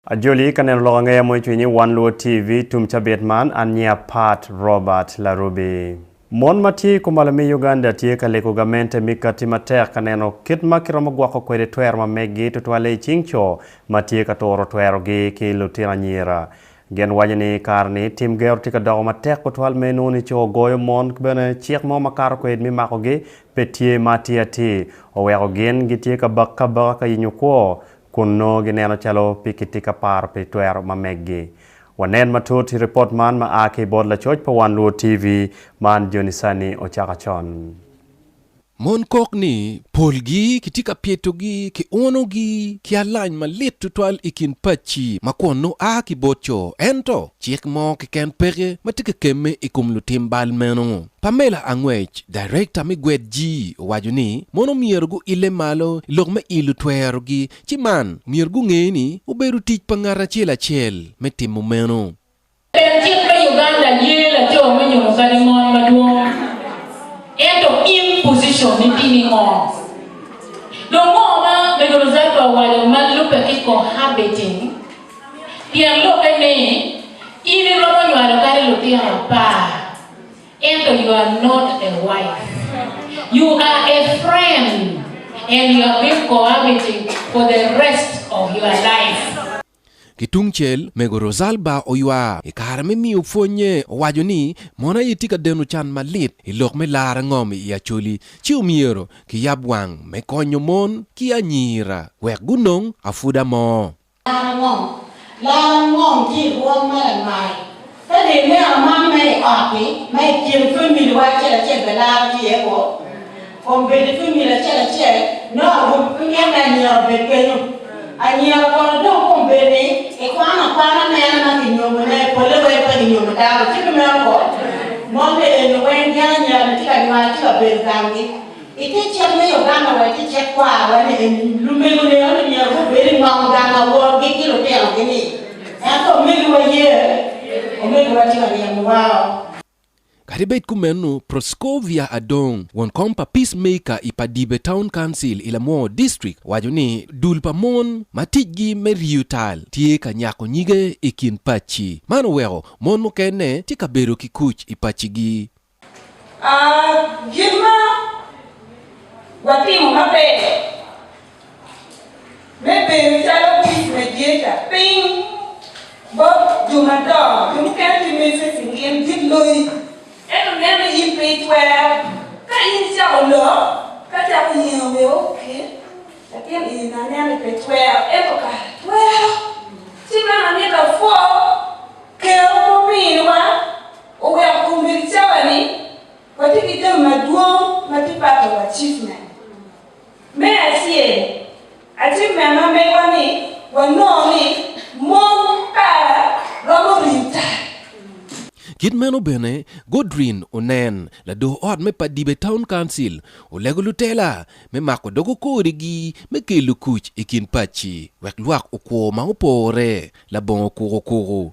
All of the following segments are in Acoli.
Ajoli ka neno lok angeya mo icwiny ni wan luwo TV tum cabit man an nyiya Pat Robert Larubi. Mon ma tye ikom malo me Uganda tye ka lego gamente mi kati matek ka neno kit ma kiromo gwoko kwede twero ma meggi tutwalle icing co ma tye ka turo twero gi ki lutino anyira. Gen waco ni kare ni tim gero tye ka doko matek tutwal me nongo ni co goyo mon ki bene cik mo ma kato kwed mi mako gi pe tye ma atir atir oweko gin gitye ka bak ka baka ka yenyo kwo kun nongo gineno calo pe kitye ka paro pi twero ma meggi. Wanen matut i ripot man ma a ki bot lacoc pa Wan Luo TV, Man Joni Sanni ocako con. Mon kok ni polgi kitye ka pyetogi ki unogi ki alany malit tutwal i kin pacci ma kwon nongo a ki bot co. Ento, cik mo keken peke ma tye ka kemme i kom lutim bal meno. Pamela Angwec, Darekta me Gwed Jii owaco ni mono myero guille malo i lok me ilo twerogi ci man myero gunge ni obedo tic pa ngat acel acel me timo meno. Pien cik me Uganda ye laco me nyuto kadi mon madwong ento in position ni timi ngo? Dong ngo ma Medo Rosalba owaco ma lube ki cohabiting pien lokke ni in iromo nywalo kadi lutino apar. Ento you are not a wife, you are a friend and you have been cohabiting for the rest of your life. Ki tung cel, Mego Rosalba oywa i kare me miyo pwonye, owaco ni, Mon aye tye ka deno can malit i lok me lar angom i Acholi, ci omyero kiyab wang me konyo mon ki anyira wek gunong apwuda mo. Laro ngom, Laro ngom tye i rwom ma lamal. Ka dong ineno man ma i ot-ti, ma i kin famili wa acel acel bene laro tye iye kwo. Kong bed i famili acel acel, nongo awobi pe mito ni anyira obed kenyo. Anyira kono dong kong bed ni ikwano akwana mene ma kinyomone, polle weng pe kinyomo dano, ci pe meno kong? Mon bene eni weng gin anyira-ni tye ka nywalo, tye ka bedo i gang-gi. I te cik me Uganda wa tye cik kwar wa ni lumego ne onongo myero gubed i ngom gang aworgi ki lutino gi ni. Ento omego wa ye? Omego wa tye ka ryemo wa o. Kadi bed kumeno, Proscovia Adong, won kom pa Peace Maker i Padibe Town Council i Lamwor District owaco ni dul pa mon ma ticgi me riyo tal tye ka nyako nyige i kin pacci. Man oweko mon mukene tye ka bedo ki kuc i paccigi. Gin ma watimo maber me bedo calo Buc me Jeca piny bot jo madongo. Jo mukene gimiyo ite cingin, gin loyi. Ento nen ni in pe itwero. Ka in icako lok, ka cako yengo bene ok, latin i na nen ni pe twero. Ento kara twero. Ci meno amito apwo Ker ma ominiwa. oweko komiti cawa ni watye ki jami madwong ma tye pato wa achievement. Me acel, achievement ma megwa ni wanongo ni mon kara romo ringo tai. Kit meno bene, Godrine Onen, lador ot me Padibe Town Council, olego lutela me mako dogo kodigi me kelo kuc i kin paci wek lwak okwo ma opore labongo kukukuku.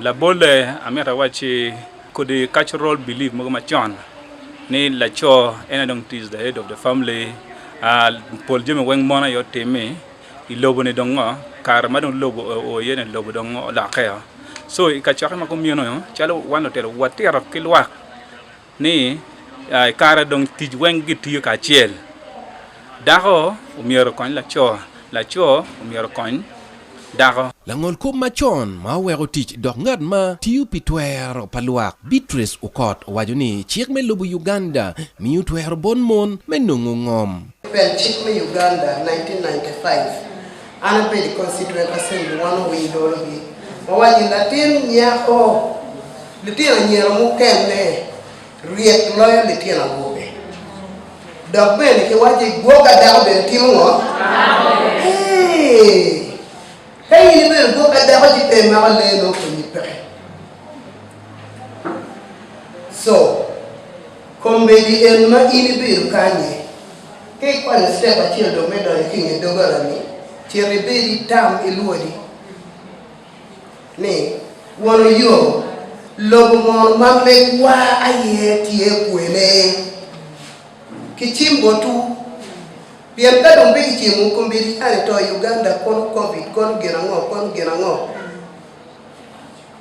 Labolle, amito awacci kodi cultural belief mogo macon ni laco en aye dong is the head of the family, pol jami weng mon aye otimi, i lobo ni dong ngo, kare ma dong lobo oo iye ni lobo dong olokke oo. So i kacokke ma kumeno calo wan lutino watito ki lwak, Ni i kare dong tic weng gitiyo kacel, dako omyero okony laco, laco omyero okony dako. Langolkop macon ma oweko tic dok ngat ma tiyo pi twero pa lwak, Beatrice Okot owaco ni cik me lobo Uganda miyo twero bot mon me nongo ngom. Pek cik me Uganda 1995 An abedo i constituent assembly wan owil dolo gi wawaco ni latin nyako litino anyira mukene ryek loyo litino awobe dok bene ki waco ni gwok adako bene timo ngo eeh ka in ibedo gwok adako ci pe imako lee nongo konyi peke so Kombeddi en ma in ibido kanye? Ka ikwanyo citep acel dong me donyo ki i nge doggola-ni, cit ibed i tam ilwodi ni, 'Wano yo, lobo mono ma megwa aye tye kwene? Kicim botwu. Pien ka dong pe kicimo, kombeddi an ito i Uganda, kono Covid, kono gin ango, kono gin ango.